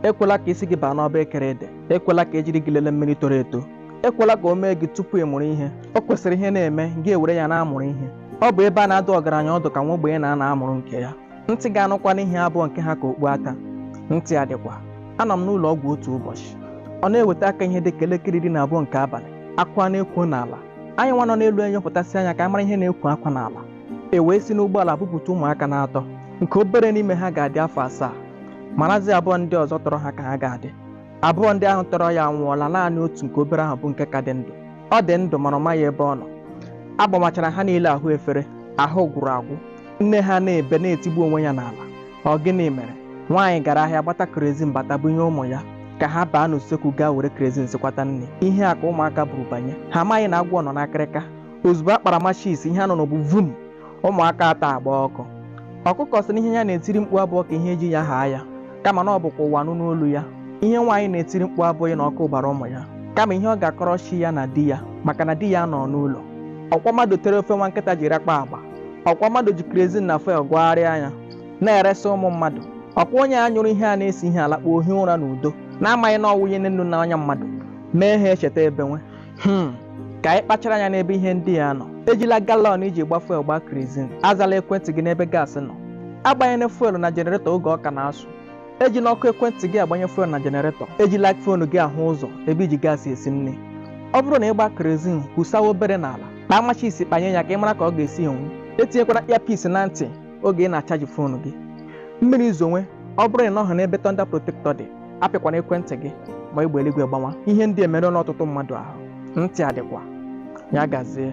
ekwela ka isi gị baa n'ọba ekere ede ekwela ka ejiri gị lele mmiri toro eto ekwela ka o mee gị tupu ị mụrụ ihe o kwesịrị ihe na-eme gị ewere ya na-amụrụ ihe ọ bụ ebe a na-adụ ọgaranya ọdụ ka nwa ogbenye na-anọ amụrụ nke ya ntị ga-anụkwanụ ihe abụghị nke ha ka okpu aka ntị adịkwa anọ m n'ụlọ ọgwụ otu ụbọchị ọ na-eweta aka ihe dị ka elekere iri na abụọ nke abalị akwa na-ekwo n'ala anyị nwa nọ n'elu enyopụtasị anya ka a mara ihe na-ekwo akwa n'ala e wee si n'ụgbọala bupụta ụmụaka n'atọ nke obere n'ime ha ga-adị afọ asaa marazi abụọ ndị ọzọ tọrọ ha ka ha ga-adị abụọ ndị ahụ tọrọ ya anwụọla naanị otu nke obere ahụ bụ nke ka dị ndụ ọ dị ndụ mana ọ maghị ebe ọ nọ agbamachara ha niile ahụ efere ahụ gwụrụ agwụ nne ha na-ebe na-etigbu onwe ya n'ala ọ gịnị mere nwaanyị gara ahịa gbata kerezin bata bunye ụmụ ya ka ha baa n'usekwu gaa were kerezin sikwata nri ihe a ka ụmụaka buru banye ha amaghị na agwọ nọ n'akịrịka ozugbo a kpara machis ihe a nụrụ bụ vum ụmụaka atọ agbaa ọkụ ọkụkọ sị na ihe ya na-etiri mkpu abụghị ka ihe ji ya haa ya kama na ọ bụ ka ụwa nụrụ olu ya ihe nwaanyị na-etiri mkpu abụghị na ọkụ gbara ụmụ ya kama ihe ọ ga-akọrọ chi ya na di ya maka na di ya anọghị n'ụlọ ọkwa mmadụ tere ofe nwa nkịta jiri akpa agba ọkwa mmadụ ji krezin na fuel gwagharịa anya na-eresị ụmụ mmadụ ọkwa onye a nyụrụ ihe a na-esi ihe alakpuo hie ụra n'udo na-amaghị na ọ wụnyere nnu n'ọnya mmadụ mee ha echeta ebenwe ka anyị kpachara anya n'ebe ihe ndị a nọ ejila galọn i ji gba fuel gbaa krezin azala ekwentị gị n'ebe gaasị nọ agbanyela fuel na jeneretọ oge ọ ka na-asụ ejila ọkụ ekwentị gị agbanye fuel na jeneretọ ejila fon gị ahụ ụzọ ebe i ji gaasị esi nri ọ bụrụ na ị gba krezin kwụsawa obere n'ala kpaa machis kpanye ya ka ị mara ka ọ ga-esi enwu etinyekwana earpiece na ntị oge ị na-achaji fon gị mmiri zonwe ọ bụrụ na ị nọghị n'ebe tọnda protektọ dị apịkwana ekwentị gị ma egbe eluigwe gbawa ihe ndị a emerụọla ọtụtụ mmadụ ahụ ntị adịkwa ya gazie